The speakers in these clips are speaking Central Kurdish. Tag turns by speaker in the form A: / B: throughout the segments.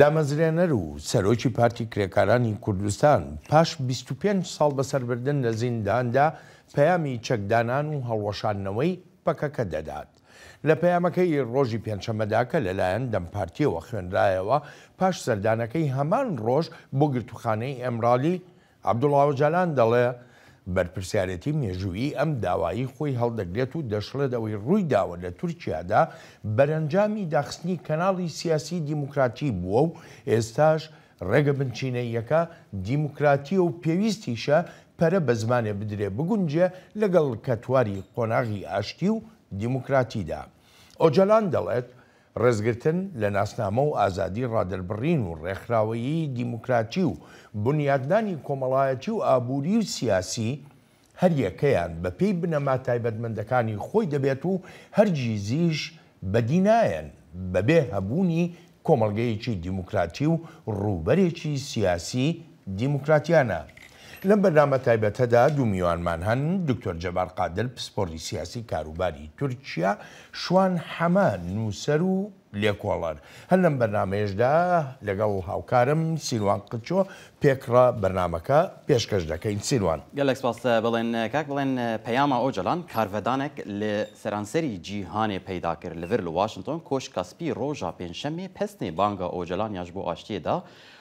A: دامەزرێنەر و سەرۆکی پارتی کرێکارانی کوردستان پاش بیست و پێنج ساڵ بەسەربردن لە زینداندا پەیامی چەکدانان و هەڵوەشاندنەوەی پەکەکە دەدات. لە پەیامەکەی ڕۆژی پێنجشەممەدا کە لەلایەن دەم پارتییەوە خوێنرایەوە، پاش سەردانەکەی هەمان ڕۆژ بۆ گرتووخانەی ئیمرالی، عەبدوڵا ئۆجالان دەڵێ بەرپرسیارێتی مێژوویی ئەم داوایەی خۆی هەڵدەگرێت و دەشڵێت ئەوەی ڕوویداوە لە تورکیادا بەرەنجامی داخستنی کەناڵی سیاسی دیموکراتی بووە و ئێستاش ڕێگە بنچینەییەکە دیموکراتییە و پێویستیشە پەرە بە زمانێ بدرێ بگونجێ لەگەڵ کەتواری قۆناغی ئاشتی و دیموکراتیدا. ئۆجالان دەڵێت، ڕێزگرتن لە ناسنامە و ئازادی ڕادەربڕین و ڕێکخراوەیی دیموکراتی و بونیادنانی کۆمەڵایەتی و ئابوری و سیاسی، هەر یەکەیان بە پێی بنەما تایبەتمەندەکانی خۆی دەبێت و هەرگیزیش بەدی نایەن بەبێ هەبونی کۆمەڵگەیەکی دیموکراتی و ڕووبەرێکی سیاسی دیموکراتیانە. لەم بەرنامە تایبەتەدا دوو میوانمان هەن، دکتۆر جەبار قادر پسپۆڕی سیاسی کاروباری تورکیا، شوان حەمە نووسەر و لێکۆڵەر. هەر لەم بەرنامەیەشدا لەگەڵ هاوکارم سیروان قلچۆ پێکڕا بەرنامەکە پێشکەش دەکەین. سیروان. گەلەک سپاس. بەڵێن
B: کاک بەڵێن پەیاما ئۆجەلان کارڤەدانەک لە سەرانسەری جیهانێ پەیدا کرد لڤر لە واشنتۆن کۆشکا سپی ڕۆژا پێنجشەمێ پەسنێ بانگا ئۆجەلانیاش بۆ ئاشتیێ دا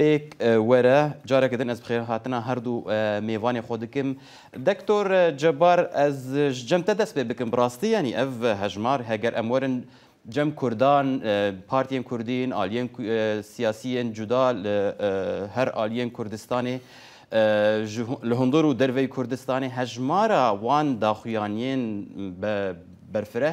B: ئێک وەرە جارەکە دن ئەز بخێر هاتنا هەر دوو مێڤانێ خۆ دکم. دکتۆر جەبار ئەز ژ جەم تە دەس پێ بکم بڕاستی یانی ئەڤ هەژمار هەگەر ئەم وەرن جەم کوردان پارتیێن کوردین ئالیێن سیاسیێن جودا ل هەر ئالیێن کوردستانێ ژ ل هندوڕ و دەرڤەی کوردستانێ هەژمارا وان داخویانیێن بە بەرفرە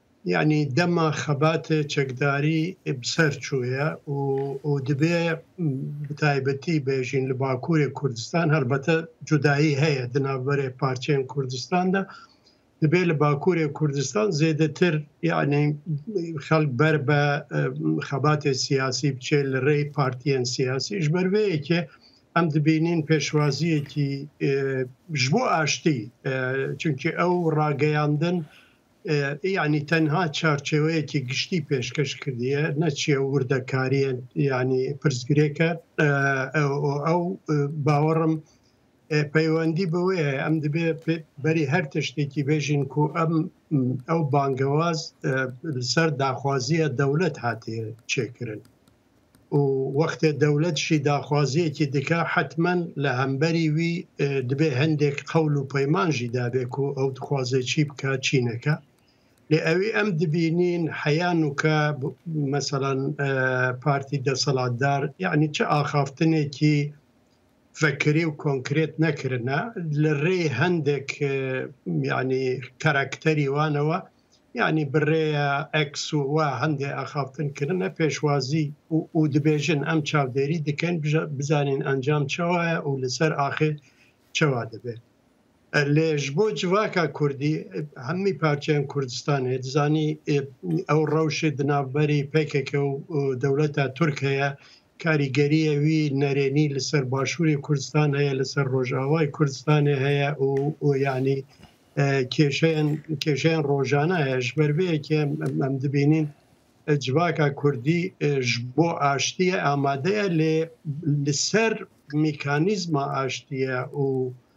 C: یانی دەما خەباتێ چەکداری بسەر چوویە و دبێ بتایبەتی بێژین لە باکوورێ کوردستان هەربەتە جودایی هەیە دنابەرێ پارچەێن کوردستاندا دبێ لە باکوورێ کوردستان زێدەتر یعنی خەک بەر بە خەباتێ سیاسی بچێ لە ڕێی پارتیان سیاسیش بەروەیەکێ ئەم دبینین پێشوازیەکی ژبوو ئاشتی چونکی ئەو ڕاگەیاندن یانی تەنها چارچێوەیەکی گشتی پێشکەش کردیە نەچیە وردەکاریە ینی پرسگرێکە ئەو باوەڕم پەیوەندی بەوەیە ئەم دەبێ بەری هەر تشتێکی بێژین کو ئەم ئەو بانگەواز سەر داخوازیە دەولەت هاتیە چێکردن و وەختێ دەولەت شی داخوازیەکی دکا حەتمەن لە هەمبەری وی دبێ هەندێک قەول و پەیمان ژی دابێ کو ئەو دخوازێ چی بکا چی نەکا. لێ ئەوی ئەم دبینین حەیا نوکە مەسەلەن پارتی دەسەلاتدار یەعنی چ ئاخافتنێکی فکری و کۆنکرێت نەکرنە لە ڕێی هەندێک یعنی کەرەکتەری وانەوە یعنی بڕێە ئەکس و وا هەندێ ئەخافتن کردنە پێشوازی و دبێژن ئەم چاودێری دکەن بزانین ئەنجام چاوایە و لەسەر ئاخێ چوا دەبێت لێ ژ بۆ جڤاکا کوردی هەمی پارچەن کوردستان هێ دزانی ئەو ڕەوشێ دناوبەری پێکەکە و دەولەتا تورک هەیە کاریگەریە وی نەرێنی لەسەر باشووری کوردستان هەیە لەسەر ڕۆژاوای کوردستانی هەیە و ینی کێشەیان کێشیان ڕۆژانە هەیە ژبەربەیەکێ ئەم دبینین جڤاکا کوردی بۆ ئاشتیە ئامادەیە لێ لەسەر میکانیزما ئاشتیە و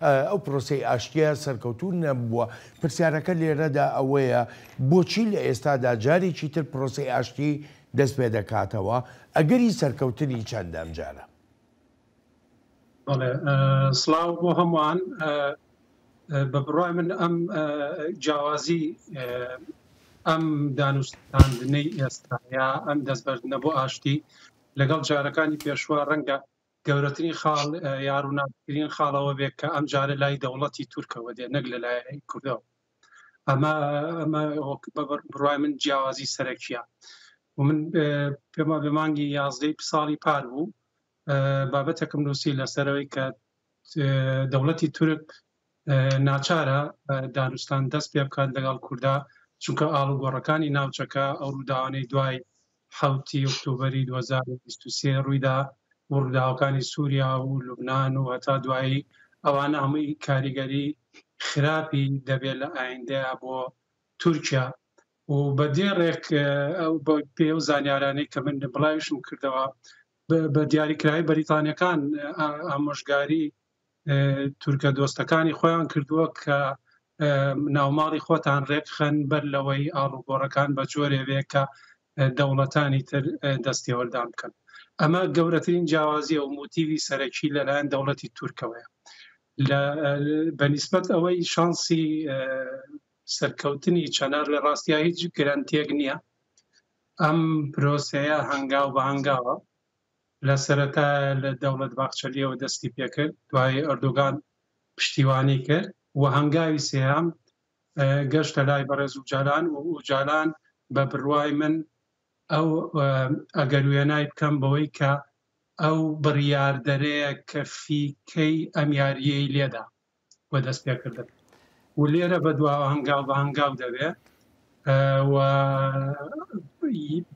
A: ئەو پرۆسەی ئاشتییە سەرکەوتوو نەبووە. پرسیارەکە لێرەدا ئەوەیە بۆچی لە ئێستادا جارێکی تر پرۆسەی ئاشتی دەست پێ دەکاتەوە؟ ئەگەری سەرکەوتنی چەندە ئەمجارە؟ بەڵێ،
D: سڵاو بۆ هەمووان. بە بڕوای من ئەم جیاوازی ئەم دانوستاندنەی ئێستا یا ئەم دەستبەردنە بۆ ئاشتی لەگەڵ جارەکانی پێشوە ڕەنگە گەورەترین خاڵ یا ڕووناکترین خاڵ ئەوە بێت کە ئەمجارە لای دەوڵەتی تورکەوە دێت نەک لەلایەن کوردەوە ئەمە ئەمە بڕای من جیاوازی سەرەکیە و من پێما بە مانگی یازدەی ساڵی پار بوو بابەتەکەم نووسی لەسەرەوەی کە دەوڵەتی تورک ناچارە دانوستان دەست پێ بکات لەگەڵ کوردا، چونکە ئاڵوگۆڕەکانی ناوچەکە، ئەو ڕووداوانەی دوای حەوت ی ئۆکتۆبەری دوو هەزار و بیست و سێ ڕوویدا و ڕووداوەکانی سووریا و لوبنان و هەتا دوایی، ئەوانە هەمووی کاریگەری خراپی دەبێت لە ئایندەیا بۆ تورکیا و بە دێڕێک بە پێی ئەو زانیارانەی کە من بڵاویشم کردەوە، بە دیاریکراوی بەریتانییەکان ئامۆژگاری تورکە دۆستەکانی خۆیان کردووە کە ناوماڵی خۆتان ڕێکخەن بەر لەوەی ئاڵوگۆڕەکان بە جۆرێ بێ کە دەوڵەتانی تر دەستێوەردان بکەن ئەمە گەورەترین جیاوازیە و موتیوی سەرەکی لەلایەن دەوڵەتی تورکەوەیە لە بەنیسبەت ئەوەی شانسی سەرکەوتنی چەنار لە ڕاستیا هیچ گرانتێک نییە ئەم پرۆسەیە هەنگاو بە هەنگاوە لە سەرەتایە لە دەولەت باخچەلیەوە دەستی پێکرد، دوایی ئەردۆگان پشتیوانی کرد و هەنگاوی سێیەم گەشتە لای بەڕێز ئوجالان و ئوجالان بە بروای من ئەو ئەگەر وێنای بکەم بەوەی کە ئەو بریاردەرەیە کە فیکەی ئەم یاریەی لێدا. و دەست پێکردن و لێرە بە دوا هەنگاو بە هەنگاو دەبێ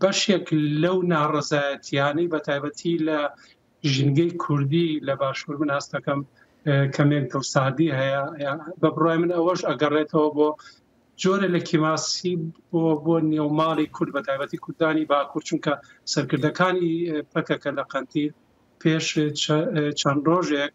D: بەشێک لەو ناڕزایەتیانەی بە تایبەتی لە ژینگەی کوردی لە باشوور من ئاستەکەم کەمێک دڵسادی هەیە بە بڕای من ئەوەش ئەگەڕێتەوە بۆ جۆرە لە کیماسی بۆ بۆ نێوماڵی کورد بە تایبەتی کوردانی باکوور چونکە سەرکردەکانی پەکەکە لە قەنتی پێش چەند ڕۆژێک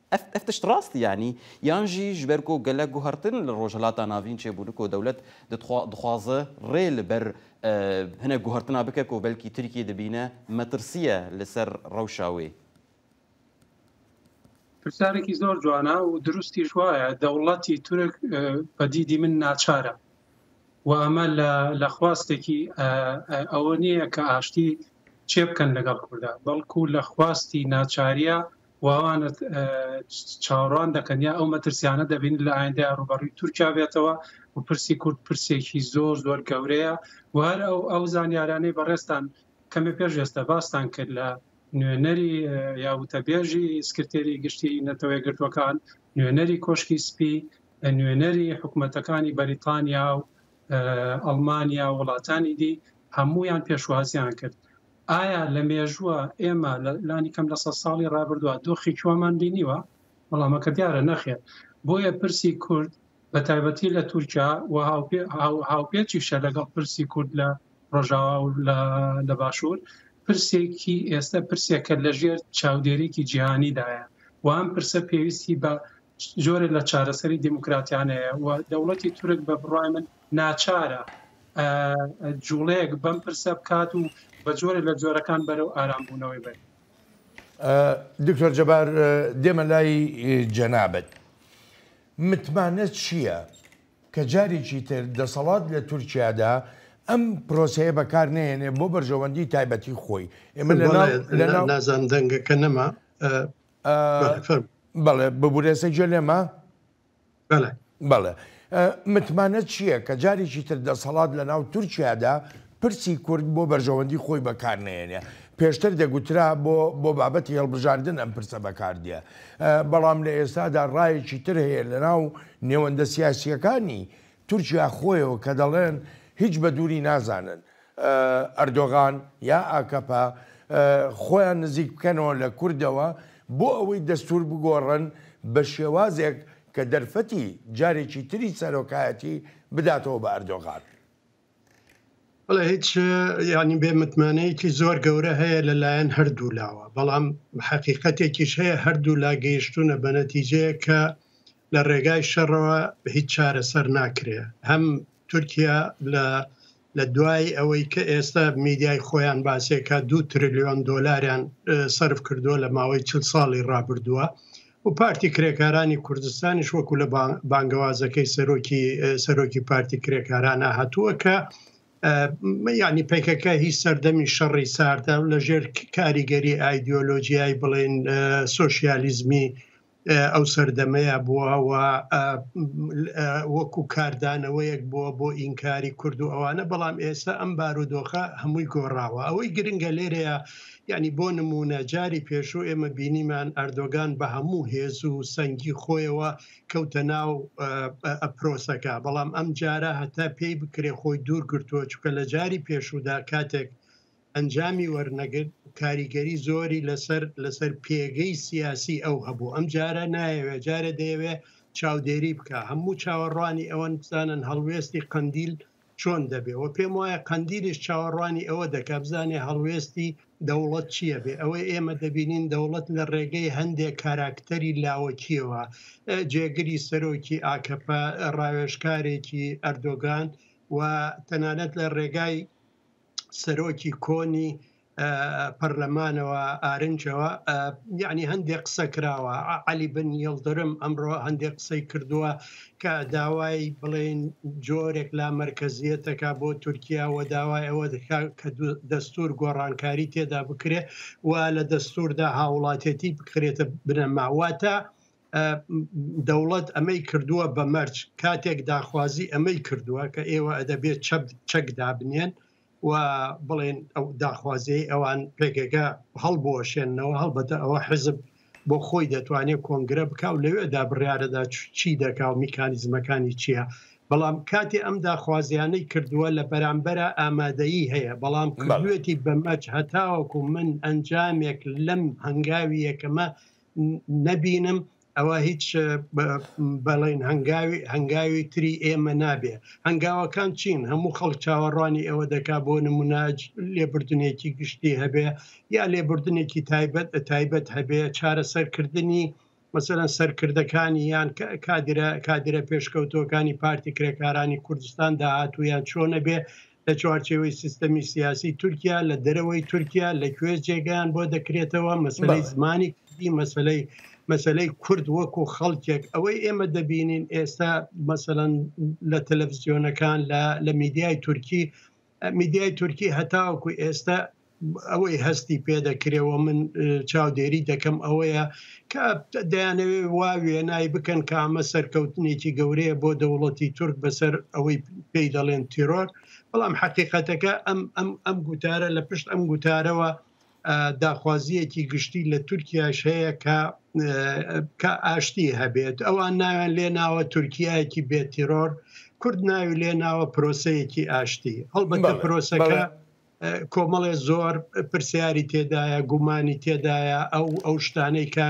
B: ئەف ئەف تشت ڕاست یانی یان ژی ژبەر گۆ گەلە گوهڕتن لە ڕۆژهەلاتا ناڤین چێ بوونک و دەولەت دتخوا دخوازە ڕێ لە بەر ئە هنە گوهڕتنا بکە کۆ بەلکی ترکیە دبینە مەترسیە لە سەر ڕەوشا وێ.
D: پرسیارێکی زۆر جوانە و دروستیش وایە دەوڵەتی تورک بە دیدی من ناچارە و ئەمە لە خواستێکی ئەوە نییە کە ئاشتی چێ بکەن لەگەڵ کووردا بەڵکو لە خواستی ناچاریە واوانە چاوەڕوان دەکەن یا ئەو مەترسیانە دەبین لە ئایندە ڕوبەڕی تورکیا بێتەوە و پرسی کورد پرسێکی زۆر زۆر گەورەیە و هەر ئەو ئەو زانیارانەی بەڕێستان کەمێ پێش ئێستا باستان کرد لە نوێنەری یا وتەبێژی سکرتێری گشتی نەتەوە گرتوەکان نوێنەری کۆشکی سپی نوێنەری حکوومەتەکانی بەریتانیا و ئەڵمانیا وڵاتانی دی هەمویان پێشوازیان کرد ئایا لە مێژووە ئێمە لانیکەم لە سەد ساڵی ڕابردووە دۆخێکی وامان بینیوە؟ وەڵامەکە دیارە نەخێر. بۆیە پرسی کورد بە تایبەتی لە تورکیا و هاوپێچیشە لەگەڵ پرسی کورد لە ڕۆژاوا و لە باشوور پرسێکی ئێستا پرسێکە لەژێر چاودێرێکی جیهانیدایە و ئەم پرسە پێویستی بە جۆرە لە چارەسەری دیموکراتیانەیە و دەوڵەتی تورک بە بڕای من ناچارە جوڵەیەک بەم پرسە بکات و بە جۆرێک لە جۆرەکان بەرەو ئارامبوونەوەی بەرێت.
A: دکتۆر جەبار دێمە لای جەنابت. متمانە چییە کە جارێکی تر دەسەڵات لە تورکیادا ئەم پرۆسەیە بەکار نێنێ بۆ بەرژەوەندی تایبەتی خۆی ئێمە نازان
C: دەنگەکە نەما
A: بەڵێ ببورێسە گوێ لێمە بەڵێ بەڵێ متمانە چییە کە جارێکی تر دەسەڵات لە ناو تورکیادا پرسی کورد بۆ بەرژەوەندی خۆی بەکار نێنێ پێشتر دەگوترا بۆ بۆ بابەتی هەڵبژاردن ئەم پرسە بەکاردە بەڵام لە ئێستادا ڕایەکی تر هەیە لە ناو نێوەندە سیاسیەکانی تورکیا خۆیەوە کە دەڵێن هیچ بە دووری نازانن ئەردۆغان یا ئاکەپە خۆیان نزیک بکەنەوە لە کوردەوە بۆ ئەوەی دەستور بگۆڕن بە شێوازێک کە دەرفەتی جارێکی تری سەرۆکایەتی بداتەوە بە ئەردۆغان.
C: بەڵێ هیچ یانی بێ متمانەیەکی زۆر گەورە هەیە لە لایەن هەردوو لاوە بەڵام حەقیقەتێکیش هەیە هەردوو لا گەیشتونە بە نەتیجەیە کە لە ڕێگای شەڕەوە هیچ چارەسەر ناکرێ هەم تورکیا لە لە دوای ئەوەی کە ئێستا میدیای خۆیان باسێکا دوو ترلیۆن دۆلاریان سەرف کردووە لە ماوەی چل ساڵی ڕابردووە و پارتی کرێکارانی کوردستانیش وەکو لە بانگەوازەکەی سەرۆکی سەرۆکی پارتی کرێکارانە هاتووە کە ینی پێکەکە هی سەردەمی شەڕی ساردە لە ژێر کاریگەری ئایدۆلۆژیای بڵێن سوسیالیزمی ئەو سەردەمەیە بووە و وەکو کاردانەوەیەک بووە بۆ ئینکاری کورد و ئەوانە بەڵام ئێستا ئەم بارودۆخە هەمووی گۆڕاوە ئەوەی گرنگە لێرەیە یعنی بۆ نمونە جاری پێشوو ئێمە بینیمان ئەردۆگان بە هەموو هێز و سەنگی خۆیەوە کەوتە ناو ئەپرۆسەکە بەڵام ئەم جارە هەتا پێی بکرێ خۆی دوور گرتووە چکە لە جاری پێشوودا کاتێک ئەنجامی وەرنەگرت کاریگەری زۆری لەسەر لەسەر پێگەی سیاسی ئەو هەبوو ئەم جارە نایەوێ جارە دەیەوێ چاودێری بکە هەموو چاوەڕوانی ئەوەن بزانن هەڵوێستی قندیل چۆن دەبێ و پێم وایە قندیلیش چاوەڕوانی ئەوە دەکە بزانێ هەڵوێستی دەوڵەت چییە بێ ئەوەی ئێمە دەبینین دەوڵەت لە ڕێگەی هەندێک کاراکتەری لاوەکیەوە جێگری سەرۆکی ئاکەپە ڕاوێژکارێکی ئەردۆگان و تەنانەت لە ڕێگای سەرۆکی کۆنی پەرلەمانەوە ئارنجەوە یعنی هەندێک قسە کراوە علی بن یڵدرم ئەمڕۆ هەندێک قسەی کردووە کە داوای بڵێن جۆرێک لا مرکزیەتەکە بۆ تورکیا و داوای ئەوە دکا کە دەستور گۆڕانکاری تێدا بکرێت و لە دەستوردا هاوڵاتێتی بکرێتە بنەماواتە دەوڵەت ئەمەی کردووە بە مەرج کاتێک داخوازی ئەمەی کردووە کە ئێوە ئەدەبێت چەپ چەک دابنێن و بڵێن ئەو داخوازی ئەوان پێگەگە هەڵبوەشێنەوە هەڵبەتە ئەوە حزب بۆ خۆی دەتوانێت کۆنگرە بک و لەوێدا بڕارەدا چی دەکا و میکانیزمەکانی چییە بەڵام کاتێ ئەم داخوازیانەی کردووە لە بەرامبەرە ئامادەیی هەیە بەڵام کردوێتی بەمەچ هەتاوەکو من ئەنجامێک لەم هەنگاوی یەکەمە نەبینم ئەوە هیچ بەڵین هەنگاوی هەنگاوی تری ئێمە نابێ هەنگاوەکان چین هەموو خەڵک چاوەڕوانی ئەوە دەکا بۆ نموناج لێبردنێکی گشتی هەبێ یا لێبردنێکی تایبەت تایبەت هەبێ چارەسەرکردنی مەسەرەن سەرکردەکانی یان کادرە کادرە پێشکەوتوەکانی پارتی کرێکارانی کوردستان داهاتویان چۆنە بێ لە چوارچێوەی سیستەمی سیاسی تورکیا لە دەرەوەی تورکیا لە کوێ جێگەیان بۆ دەکرێتەوە مەسلەی زمانی کوردی مەسلەی مەسلەی کورد وەکو خەڵکێک ئەوەی ئێمە دەبینین ئێستا مەسەەن لە تەلەڤزیۆنەکان لە میدیای تورکی میدیای تورکی هەتاوەکو ئێستا ئەوەی هەستی پێ دەکرێ و من چاودێری دەکەم ئەوەیە کە دەیانەوێ وا وێنای بکەن کە ئەمە سەرکەوتنێکی گەورەیە بۆ دەوڵەتی تورک بەسەر ئەوەی پێی دەڵێن تیرۆر بەڵام حقیقەتەکە ئەم ئەم ئەم گوتارە لە پشت ئەم گوتارەوە داخوازیەکی گشتی لە تورکیاش هەیە کە کە ئاشتی هەبێت ئەوان ناوێن لێ ناوە تورکایەکی بێتیرۆر کورد ناوی لێ ناوە پرۆسەیەکی ئاشتی هەڵبەت پرۆسەکە کۆمەڵێ زۆر پرسیاری تێدایە گومانی تێدایە ئەو ئەو شتانەی کە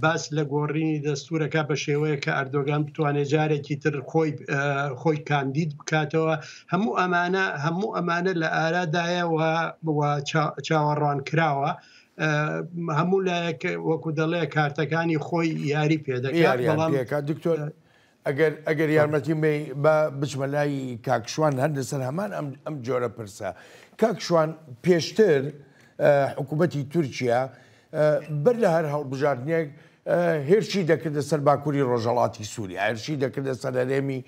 C: باس لە گۆڕینی دەستورەکە بە شێوەیە کە ئەردۆگان بتوانێت جارێکی تر خۆی خۆی کاندید بکاتەوە هەموو ئەمانە هەموو ئەمانە لە ئارادایەوە چاوەڕوان کراوە. هەموو لایەک وەکو دەڵێ کارتەکانی خۆی یاری پێدەکات دکتۆر
A: ئەگەر ئەگەر یارمەتیم بەی با بچمە لای کاک شوان هەر لەسەر هەمان ئەم ئەم جۆرە پرسە کاک شوان پێشتر حکوومەتی تورکیا بەر لە هەر هەڵبژاردنێک هێرشی دەکردە سەر باکووری ڕۆژەڵاتی سووری هێرشی دەکردە سەر هەرێمی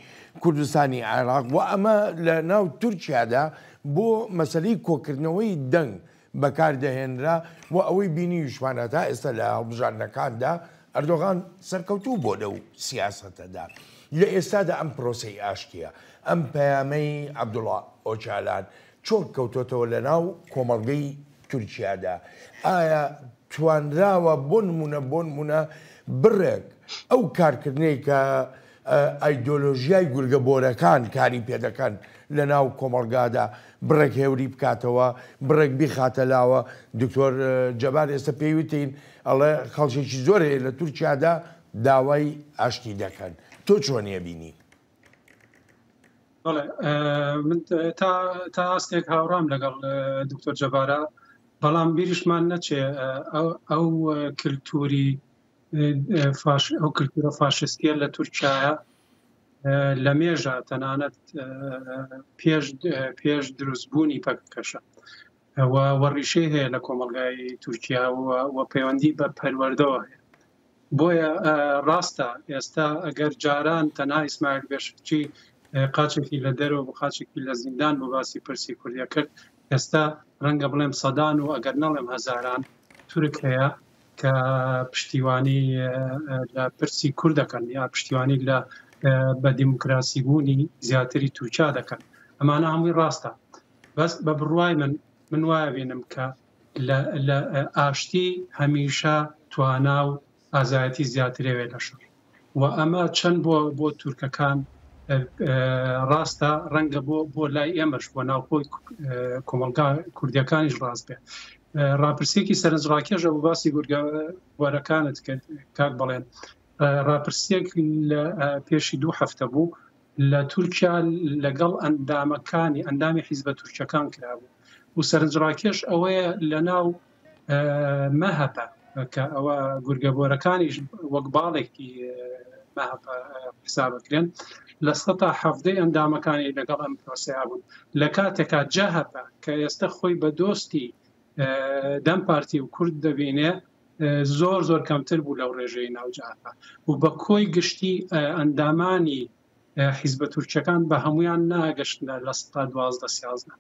A: کوردستانی عێراق و ئەمە لە ناو تورکیادا بۆ مەسلەی کۆکردنەوەی دەنگ بەکار دەهێنرا، بۆ ئەوەی بینیویشمانە تا ئێستا لە هەڵبژاردنەکاندا ئەردۆغان سەرکەوتوو بووە لەو سیاسەتەدا. لە ئێستادا ئەم پرۆسەی ئاشتییە، ئەم پەیامەی عەبدوڵا ئۆجالان چۆن کەوتۆتەوە لە ناو کۆمەڵگەی تورکیادا؟ ئایا توانراوە بۆ نموونە بۆ نموونە بڕێک ئەو کارکردنەی کە ئایدۆلۆژیای گورگە بۆرەکان کاری پێدەکەن لەناو کۆمەڵگادا بڕێک هێوری بکاتەوە بڕێک بیخاتە لاوە دکتۆر جەبار ئێستا پێی وتین ئەڵێ خەڵکێکی زۆر هەیە لە تورکیادا داوای ئاشتی دەکەن تۆ چۆنیە بینی من تا ئاستێک هاوڕام
D: لەگەڵ دکتۆر جەبارە بەڵام بیریشمان نەچێ ئەو کللتوری فاش ئەو کللتورە فاشستیە لە تورکایە لە مێژە تەنانەت پێش پێش دروستبوونی پەکەکەشە وەڕیشەی هەیە لە کۆمەلگای تورکیا و پەیوەندی بە پەروەەردەوە هەیە بۆیە ڕاستە ئێستا ئەگەر جاران تەنا ئیسماعیل بێشچی قاچێکی لە دەرەوە بە قاچێکی لە زیندان بۆ باسی پرسی کوردە کرد ئێستا ڕەنگە بڵێم سەدان و ئەگەر نەڵێم هەزاران تورک هەیە کە پشتیوانی لە پرسی کورد دەکەن یا پشتیوانی لە بە دیموکراسی بوونی زیاتری تورکیا دەکەن ئەمانە هەمووی ڕاستە بەس بە بڕوای من من وایە بینم کە لە ئاشتی هەمیشە توانا و ئازایەتی زیاترەوێ لە شەڕ و ئەمە چەند بۆ بۆ تورکەکان ڕاستە ڕەنگە بۆ بۆ لای ئێمەش بۆ ناوخۆی کۆمەلگا کوردیەکانیش ڕاست بێ ڕاپرسێکی سەرنجڕاکێشە بۆ باسی گورگە وەرەکانت کرد کاک بڵێن ڕاپرسێک لە پێشی دوو هەفتە بوو لە تورکیا لەگەڵ ئەندامەکانی ئەندامی حیزبە تورکەکان کرابوو و سەرنجڕاکێش ئەوەیە لە ناو مەهەپە، کە ئەوە گورگە بۆرەکانیش وەک باڵێکی مەهەپە حساب ئەکرێن، لە سەتا حەڤدەی ئەندامەکانی لەگەڵ ئەم پرۆسەیا بوون، لە کاتێکا جەهەپە کە ئێستە خۆی بە دۆستی دەم پارتی و کورد دەبینێ زۆر زۆر کەمتر بوو لەو ڕێژەی ناو جەهەپە و بە کۆی گشتی ئەندامانی حیزبە تورکیەکان بە هەمویان ناگەشتنە لە سەدا دوازدە سیازدە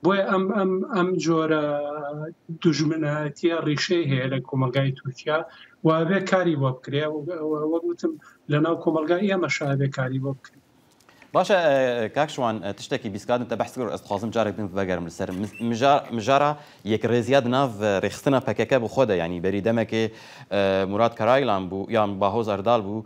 D: بۆیە ئەم ئەم ئەم جۆرە دژمنایەتە ڕیشەی هەیە لە کۆمەلگای تورکیا وابێ کاری بۆ بکرێ وەگوتم لە ناو کۆمەلگای ئێمە شابێ کاری بۆ بکرێت باشە
B: کاکشوان تشتێکی بیسکاتن تە بەحسکر ئەسخوازم جارێک دن بەگەرم لەسەر مژارە یەک ڕێزیاد ناو ڕێخستنە پەکەکە بۆ خۆدە ینی بەری دەمەکێ مراد کەرایلان بوو یان باهۆز ئەردال بوو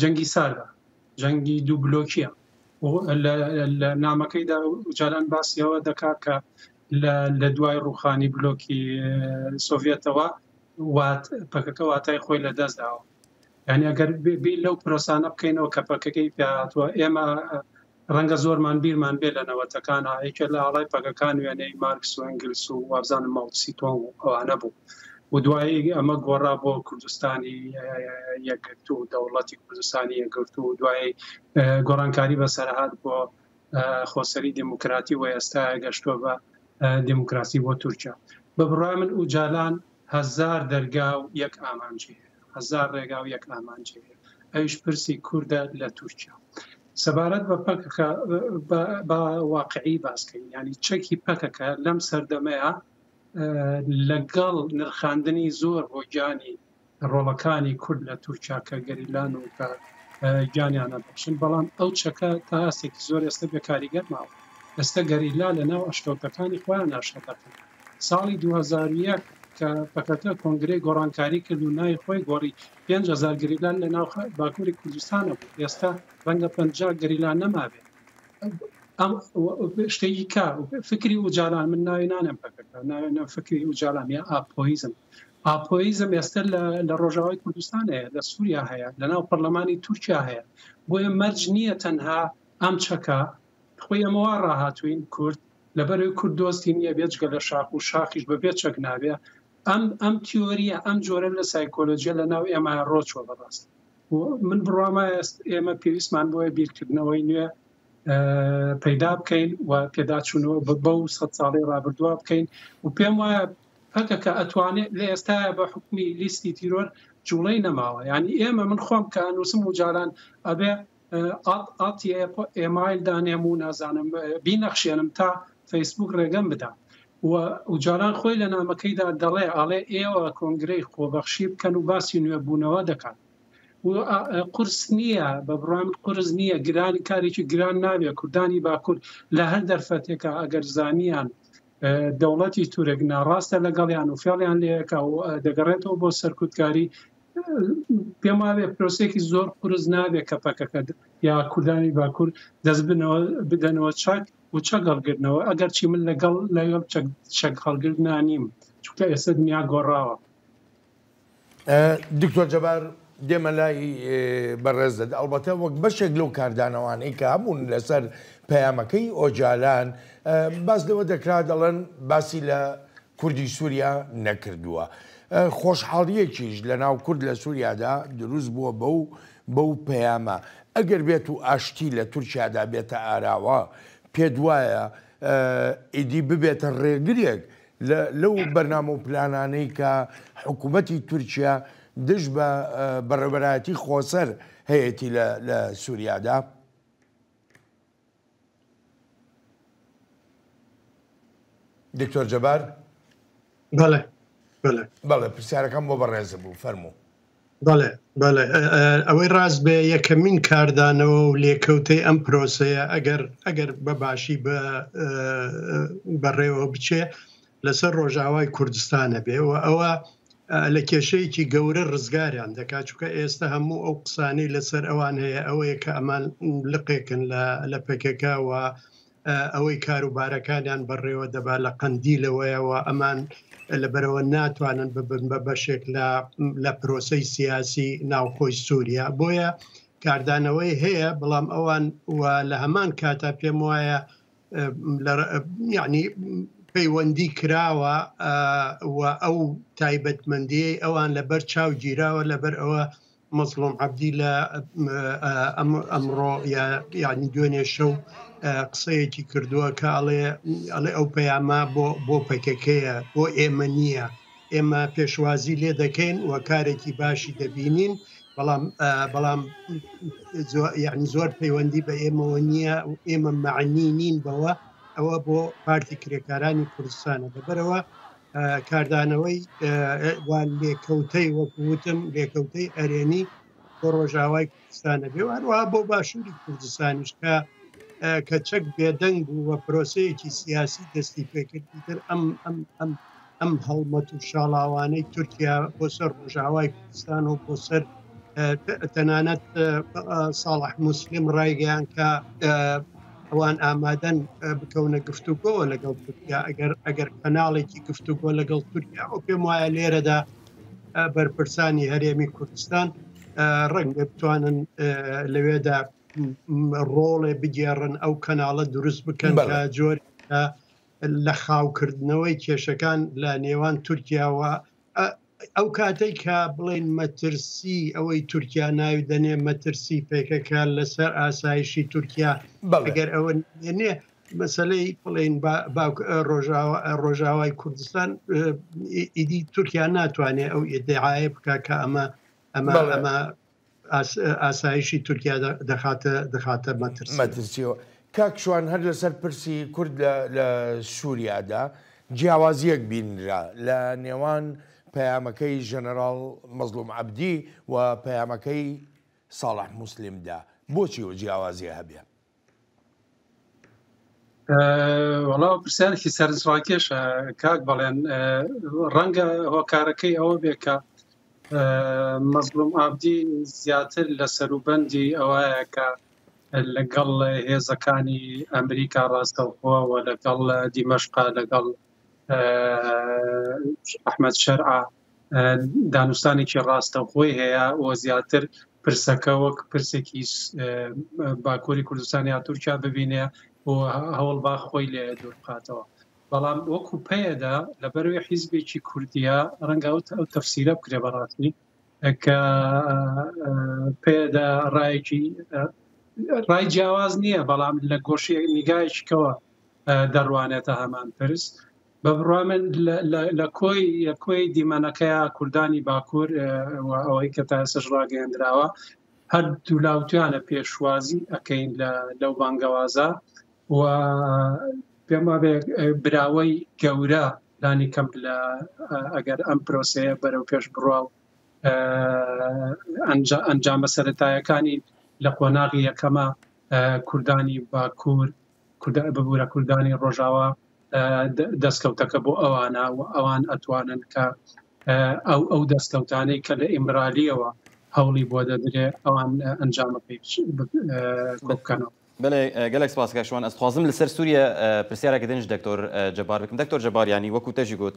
D: جەنگی ساردە، جەنگی دوو بلۆکییە و لە نامەکەیدا جاران باسی ئەوە دەکات کە لە دوای ڕووخانی بلۆکی سۆڤێتەوە پەکەکە واتای خۆی لە دەست داوە یانی ئەگەر بیر لەو پرۆسانە بکەینەوە کە پەکەکەی پێهاتوە ئێمە ڕەنگە زۆرمان بیرمان بێ لە نەوەتەکانا یەکێ لە ئاڵای پەگەکان وێنەی مارکس و ئەنگلس و وابزانم ماوتسی تۆنگ و ئەوانە بوو و دوایی ئەمە گۆڕا بۆ کوردستانی یەکگرت و دەوڵەتی کوردستانی یەکگرت و دوایی گۆڕانکاری بەسەرهات بۆ خۆسەری دموکراتی و ئێستا گەشتوە بە دموکراسی بۆ تورکیا بە بڕای من ئوجالان هەزار دەرگا و یەک ئامانجی هەیە هەزار ڕێگا و یەک ئامانجی هەیە ئەویش پرسی کوردە لە تورکیا سەبارەت بە پەکەکە با واقعی باسکەین ینی چەکی پەکەکە لەم سەردەمەیە لەگەڵ نرخاندنی زۆر بۆ گیانی ڕۆڵەکانی کورد لە تورکیا کە گەریلان و کە گیانیانە بەخشن بەڵام ئەو چەکە تا ئاستێکی زۆر ئێستا بێکاریگەر ماوە ئێستا گەریلا لە ناو ئەشکەوتەکانی خۆیان ناشە دەکەن ساڵی دوو هەزار و یەک کە پەکەکە کۆنگرەی گۆڕانکاری کرد و ناوی خۆی گۆڕی، پێنج هەزار گەریلا لە ناو باکووری کوردستان هەبوو، ئێستا رەنگە پەنجا گەریلا نەمابێت. ئەم شتێکی کە فکری ئوجالان، من ناوی نانێم پەکەکە، ناوی نێم فکری ئوجالان یا ئاپۆیزم. ئاپۆیزم ئێستا لە رۆژاوای کوردستان هەیە، لە سووریا هەیە، لە ناو پەرلەمانی تورکیا هەیە. بۆیە مەرج نییە تەنها ئەم چەکە خۆی ئەمە وا ڕاهاتووین کورد لەبەرەوەی کورد دۆستی نییە بێجگە لە شاخ و شاخیش بە بێ چەک نابێ ئەم ئەم تیۆریە ئەم جۆرە لە سایکۆلۆژیە لە ناو ئێمە ڕۆچوە بەڕاست من بڕوامە ئێمە پێویستمان بۆیە بیرکردنەوەی نوێ پەیدا بکەین و پێداچوونەوە بە بەو سە ساڵی ڕابردووا بکەین و پێم وایە پەکەکە ئەتوانێت لە ئێستا بە حکومی لیستی تیرۆر جوڵەی نەماوە ینی ئێمە من خۆم کە نووسم و جاران ئەبێ ئاتیئێمایل دانێم و نازانم بینەخشێنم تا فەیسبووک ڕێگەم بدا و جاران خۆی لە نامەکەیدا دەڵێ ئاڵێ ئێوە کۆنگرەی خۆبەخشی بکەن و باسی نوێبوونەوە دەکات قرس نییە بە بڕام قرس نییە گرانی کارێکی گران ناوێ کوردانی باکوور لە هەر دەرفەتێکە ئەگەر زانیان دەوڵەتی تورک ناڕاستە لەگەڵیان و فێڵیان لەکە و دەگەڕێتەوە بۆ سەرکوتکاری پێم وابێ پرۆسێکی زۆر قرس نابێت کە پەکەکە یا کوردانی باکوور دەست بنەوە بدەنەوە چاک و چەک هەڵگرنەوە ئەگەر چی من لەگەڵ لەگەڵ چەک هەڵگرنا نیم چونکە ئێستا دنیا گۆڕاوە
A: دکتۆر جەبار دێمە لای بەڕێزت ئەڵبەتە وەک بەشێک لەو کاردانەوانەی کە هەبوون لەسەر پەیامەکەی ئۆجالان باس لەوە دەکرا دەڵێن باسی لە کوردی سووریا نەکردووە خۆشحاڵیەکیش لە ناو کورد لە سووریادا دروست بووە بە و بەو پەیامە ئەگەر بێت و ئاشتی لە تورکیادا بێتە ئاراوە پێ دوایە ئیدی ببێتە ڕێگرێک لەو بەرنامە و پلانانەی کە حکوومەتی تورکیا دژ بە بەڕێوەبەرایەتی خۆسەر هەیەی لە سووریادا؟ دکتۆر جەبار
C: بەڵێ بەڵێ پرسیارەکەم
A: بۆ بەڕێزە بوو فەرموو. بەڵێ
C: بەڵێ ئەوەی ڕاست بێ یەکەمین کاردانەوە و لێکەوتەی ئەم پرۆسەیە ئەگەر ئەگەر بە باشی بە بەڕێوە بچێ لەسەر ڕۆژاوای کوردستانە بێ و ئەوە لە کێشەیەکی گەورە ڕزگاریان دەکات چکە ئێستا هەموو ئەو قسانەی لەسەر ئەوان هەیە ئەوەیە کە ئەمان لقێکن لە پێکەکەوە ئەوەی کاروبارەکانیان بەڕێوە دەبا لە قەندیلەوەیە و ئەمان لەبەرەوە ناتوانن ببن بە بەشێک لە پرۆسەی سیاسی ناوخۆی سووریا بۆیە کاردانەوەی هەیە بەڵام ئەوان و لە هەمان کاتا پێم وایە یعنی پەیوەندی کراوە و ئەو تایبەتمەندی ئەوان لەبەر چاو گیراوە لەبەر ئەوە مەزڵوم عەبدی لە ئەمڕۆ یانی دوێنێ شەو قسەیەکی کردووە کە ئەڵێ ئەڵێ ئەو پەیامە بۆ بۆ پەکەکەیە بۆ ئێمە نییە ئێمە پێشوازی لێ دەکەین و کارێکی باشی دەبینین بەڵام بەڵام یعنی زۆر پەیوەندی بە ئێمەوە نییە و ئێمە معنی نین بەوە ئەوە بۆ پارتی کرێکارانی کوردستانە دەبەرەوە کاردانەوەی لێکەوتەی وەکوتم لێکەوتەی ئەرێنی بۆ ڕۆژاوای کوردستانە بێ هەروە بۆ باشووری کوردستانیش کە کە چەک بێدەنگ بوو وە پرۆسەیەکی سیاسی دەستی پێکردی تر ئەم ئەم ئەم ئەم هەڵمەت و شاڵاوانەی تورکیا بۆ سەر ڕۆژاوای کوردستان و بۆ سەر تەنانەت ساڵح مسلم ڕایگەیان کە ئەوان ئامادەن بکەونە گفتوگۆوە لەگەڵ تورکیا ئەگەر ئەگەر کەناڵێکی گفتوگۆ لەگەڵ تورکیا و پێم وایە لێرەدا بەرپرسانی هەرێمی کوردستان ڕەنگە بتوانن لەوێدا ڕۆڵێ بگێڕن ئەو کەناڵە دروست بکەن بە جۆر لە خاوکردنەوەی کێشەکان لە نێوان تورکیاوە ئەو کاتەی کە بڵین مەترسی ئەوەی تورکیا ناوی دەنێ مەترسی پێکەکە لەسەر ئاسایشی تورکیا بەگەر ئەوە نێ مەسلەی بڵین ڕۆژاوای کوردستان ئیدی تورکیا ناتوانێت ئەو ئێدعاە بکە کە ئەمە ئەمە ئەمە ئاسایشی تورکیا دەخاتە دەخاتە مەترسیەوە. کاک شوان هەر
A: لەسەر پرسی کورد لە سوریادا جیاوازیەک بینرا لە نێوان پەیامەکەی ژەنەراڵ مەزڵوم عەبدی و پەیامەکەی ساڵح موسلیم دا بۆچی ئەو جیاوازیە هەبێ؟
D: وەڵا پرسیارێکی سەرنجڕاکێشە کاک بەڵێن ڕەنگە هۆکارەکەی ئەوە بێ کە مەزلوم ئابدی زیاتر لە سەروبەندی ئەوەیە کە لەگەڵ هێزەکانی ئەمریکا ڕاستەوخۆەوە لەگەڵ دیمەشقا لەگەڵ ئەحمد شەرع دانوستانێکی ڕاستەوخۆی هەیە و زیاتر پرسەکە وەک پرسێکی باکووری کوردستان یا تورکیا ببینێ و هەوڵ با خۆی لێ دوور بخاتەوە بەڵام وەکو پێدا لە بەروی حیزبێکی کوردیا ڕەنگە ئەو ئەو تەفسیرە بکرێ بەڕاستی کە پێدا ڕایەکی ڕای جیاواز نییە بەڵام لە گۆشی نیگایشکەوە دەڕوانێتە هەمان پرس بە بڕوای من لە کۆی کۆی دیمەنەکەیا کوردانی باکوور و ئەوەی کە تا ئێسش ڕاگەیەندراوە هەر دوولاوتیانە پێشوازی ئەەکەین لەو بانگەوازە و پێما براوەی گەورە لانی کەم لە ئەگەر ئەم پرۆسەیە بەرەو پێش بڕوا و ئەنجامە سەتایەکانی لە قۆناغی یەکەمە کوردانی باکوور ببورە کوردانی ڕۆژاوا دەستکەوتەکە بۆ ئەوانە و ئەوان ئەتوانن کە ئەو ئەو دەستکەوتانەی کە لە ئیمرالیەوە هەوڵی بۆ دەدرێ ئەوان ئەنجامە پێچ بکەنەوە بەێ
B: گەلێک سپاسکەشوان ئەستخوازم لەسەر سووریە پرسیارەکە دنج دکتۆر جەبار بکەم دکتۆر جەباریانی وەکو تەژی گوت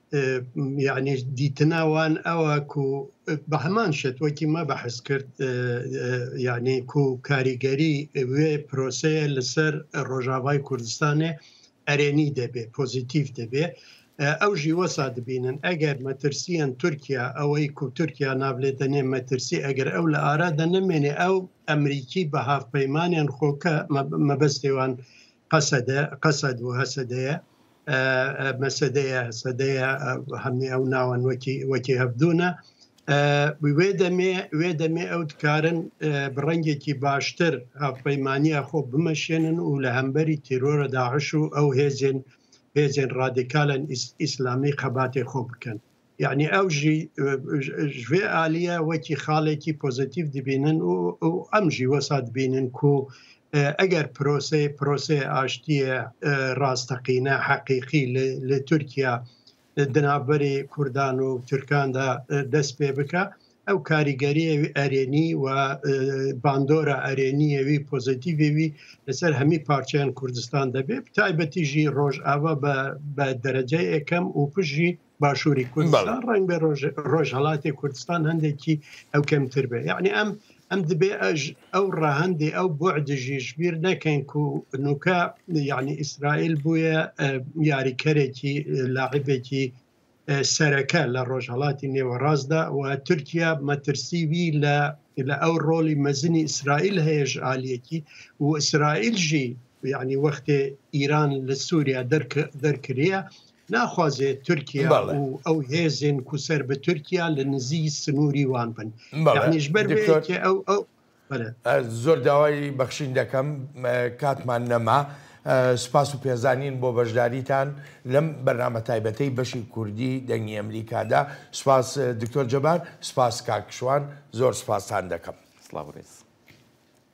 C: یعنی دیتنا وان ئەوە کو بە هەمان شێت وەکی مە بەحس کرد یعنی کو کاریگەری وێ پرۆسەیە لەسەر ڕۆژاوای کوردستانێ ئەرێنی دەبێ پۆزیتیف دەبێ ئەو ژیوە سادبینن ئەگەر مەترسیان تورکیا ئەوەی کو تورکیا نابلێ دەنێ مەترسی ئەگەر ئەو لە ئارا دەنەمێنێ ئەو ئەمریکی بە هاافپەیمانیان خۆکە مەبەستێوان قەسەدە قەسەد و هەسەدەیە مەسەدەیە هەسەدەیە هەمی ئەو ناوەن وەکی وەکی هەبدونە وێ دەمێ وێ دەمێ ئەو دکارن بڕەنگێکی باشتر هاوپەیمانە خۆ بمەشێنن و لە هەمبەری تیرۆرە داعش و ئەو هێزێن هێزێن ڕادیکالن ئیسلامی خەباتێ خۆ بکەن یعنی ئەو ژێ ئالیە وەکی خاڵێکی پۆزیتیف دبینن و ئەم ژیوەسا دبینن کو ئەگەر پرۆسی پرۆسی ئاشتیە ڕاستەقینە حەقیقی لە تورکیا دنابەری کوردان و تورکاندا دەست پێ بکە ئەو کاریگەریەوی ئەرێنی و باندۆرە ئەرێنیەوی پۆزیتیڤوی لەسەر هەمی پارچیان کوردستان دەبێت تایبەتیژی ڕۆژ ئاوا بە دەرەجە یەکەم و پژی باشووری کوردستان ڕنگ بە ڕۆژهڵاتی کوردستان هەندێکی ئەو کەمتر بێ یعنی ئەم ئەم دبێ ئەژ ئەو ڕەهندی ئەو بۆ دژی ژبیر نەکەین و نوکە یعنی ئیسرائیل بووە یاریکەرێکی لاعبێکی سەرەکە لە ڕۆژهڵاتی نێوەڕاستدا و تورکیا مەترسیوی لە لە ئەو ڕۆلی مەزنی ئیسرائیل هەیەش عالیەکی و ئیسرائیل ژی یعنی وەختێ ئیران لە سووریا دەرکرە ناخوازێ تورکیا و ئەو هێزن کوسەر بە تورکیا لە نزی سنووری وان بن بەڵێش بەر ئەو
A: ئەو زۆر داوای بەخشین
C: دەکەم
A: کاتمان نەما سپاس و پێزانین بۆ بەشداریتان لەم بەرنامە تایبەتەی بەشی کوردی دەنگی ئەمریکادا سپاس دکتۆر جەبار سپاس کاکشوان زۆر
B: سپاسان
A: دەکەم سلااوڕێز.